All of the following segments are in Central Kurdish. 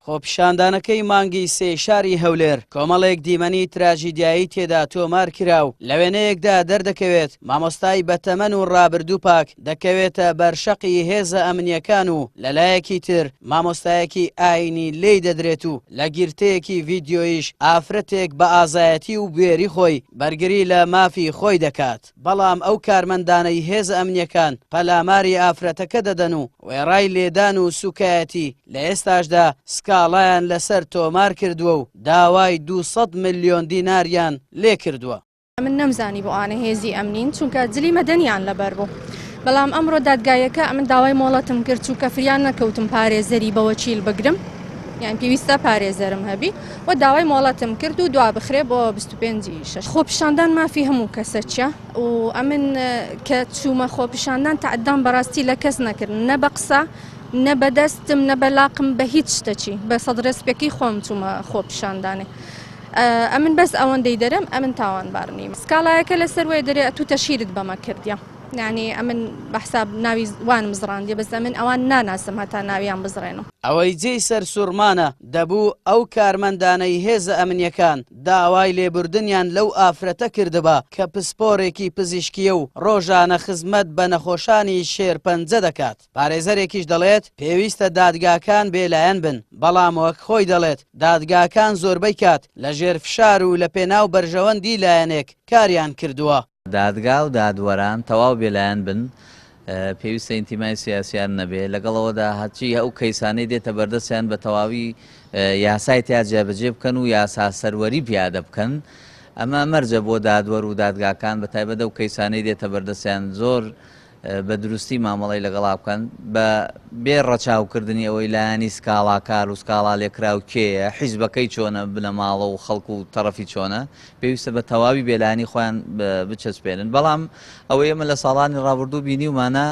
خۆپیشاندانەکەی مانگی سێ شاری هەولێر کۆمەڵێک دیمەنی تراژیدیایی تێدا تۆمار کرا و لە وێنەیەکدا دەردەکەوێت مامۆستای بەتەمەن و ڕابردوو پاک دەکەوێتە بەرشەقی هێزە ئەمنیەکان و لەلایەکی تر مامۆستایەکی ئاینی لی دەدرێت و لە گیرتەیەکی ڤیددیۆیش ئافرەتێک بە ئازایەتی و بوێری خۆی بەرگری لە مافی خۆی دەکات. بەڵام ئەو کارمەندانەی هێزە ئەمنیەکان پەلاماری ئافرەتەکە دەدەن و وێڕای لێدان و سوکایەتی لە ئێستاشدا سکاڵایان لەسەر تۆمار کردووە و داوای دوو سەد ملیۆن دیناریان لێکردووە. من نەمزانی بۆ ئانە هێزی ئەمنین چونکە جلی مەدەنیان لەبەر بوو بەڵام ئەمڕۆ دادگایەکە ئەمن داوای مۆڵەتم کرد چونکە فریان نەکەوتم پارێزەری بەوەکیل بگرم یان پێویستە پارێزەرم هەبی. و داوای مۆڵەتم کرد و دوا بخرێ بۆ بیست و پێنج ی شەش خۆپیشاندان مافی هەموو کەسەکیە و ئەمن کە چوومە خۆپیشاندان تەعدام بەڕاستی لە کەس نەکرد نە بە قسە نە بە دەستم نە بە لاقم بە هیچ شتەکی بە سەد ڕێسپێکی خۆم چوومە خۆپیشاندانێ ئەمن بەس ئەوەندەی دەرم ئەمن تاوانبار نیم سکاڵایەکە لەسەر وێ دەرێ ئەتوو تەشیرت بەمە کردە یعنی ئەمن بە حساب ناوی وانم زڕاندیە بەس ئەمن ئەوان ناناسم هەتا ناویان بزڕێنم. ئەوەی جێی سەرسوڕمانە دەبوو ئەو کارمەندانەی هێزە ئەمنیەکان داوای لێبوردنیان لەو ئافرەتە کردبا کە پسپۆرێکی پزیشکیە و ڕۆژانە خزمەت بە نەخۆشانی شێرپەنجە دەکات. پارێزەرێکیش دەڵێت، پێویستە دادگاکان بێلایەن بن، بەڵام وەک خۆی دەڵێت، دادگاکان زۆربەی کات لەژێر فشار و لەپێناو بەرژەوەندی لایەنێک کاریان کردووە. دادگا و دادوەران تەواو بێلایەن بن، پێویستە ئینتیمای سیاسییان نەبێ، لەگەڵ ئەوەدا هەرچی ئەو کەیسانەی دێتە بەردەستیان بە تەواوی یاسای تیا جێبەجێ بکەن و یاسا سەروەری پیادە بکەن، ئەمە مەرجە بۆ دادوەر و دادگاکان بەتایبەت ئەو کەیسانەی دێتە بەردەستیان زۆر بە دروستی مامەڵەی لەگەڵا بکەن، بە بێ ڕەچاو کردنی ئەوەی لایەنی سکاڵاکار و سکاڵا لێکراو کێیە، حیزبەکەی چۆنە، بنەماڵە و خەڵک و تەڕەفی چۆنە، پێویستە بە تەواوی بێلایەنی خۆیان بچەسپێنن، بەڵام ئەوەی ئێمە لە ساڵانی ڕابوردوو بینیومانە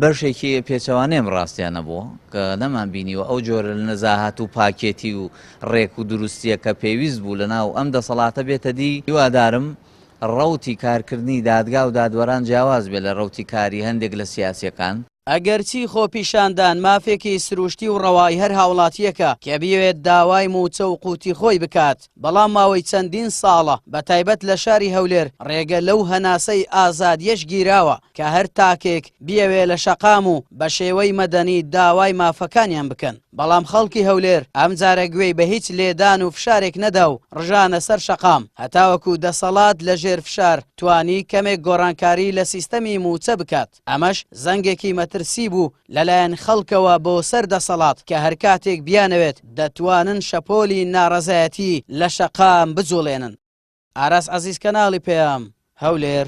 بەشێکی پێچەوانەیەم ڕاستیان نەبووە کە نەمان بینیوە ئەو جۆرە لە نەزاهات و پاکێتی و ڕێک و دروستیە کە پێویست بوو لە ناو ئەم دەسەڵاتە بێتە دی هیوادارم ڕەوتی کارکردنی دادگا و دادوەران جیاواز بێت لە ڕەوتی کاری هەندێک لە سیاسییەکان. ئەگەرچی خۆپیشاندان مافێکی سروشتی و ڕەوای هەر هاوڵاتییەکە کە بیەوێت داوای مووچە و قووتی خۆی بکات، بەڵام ماوەی چەندین ساڵە بە تایبەت لە شاری هەولێر ڕێگە لەو هەناسەی ئازادییەش گیراوە کە هەر تاکێک بیەوێت لە شەقام و بە شێوەی مەدەنی داوای مافەکانیان بکەن. بەڵام خەڵکی هەولێر ئەمجارە گوێی بە هیچ لێدان و فشارێک نەدا و ڕژانە سەر شەقام، هەتاوەکو دەسەڵات لە ژێر فشار توانی کەمێک گۆڕانکاری لە سیستەمی مووچە بکات، ئەمەش زەنگێکی مەترسی بوو لەلایەن خەڵکەوە بۆ سەر دەسەڵات کە هەرکاتێک بیانەوێت دەتوانن شەپۆلی ناڕەزایەتی لە شەقام بجوڵێنن. ئاراس عەزیز کەناڵی پەیام، هەولێر.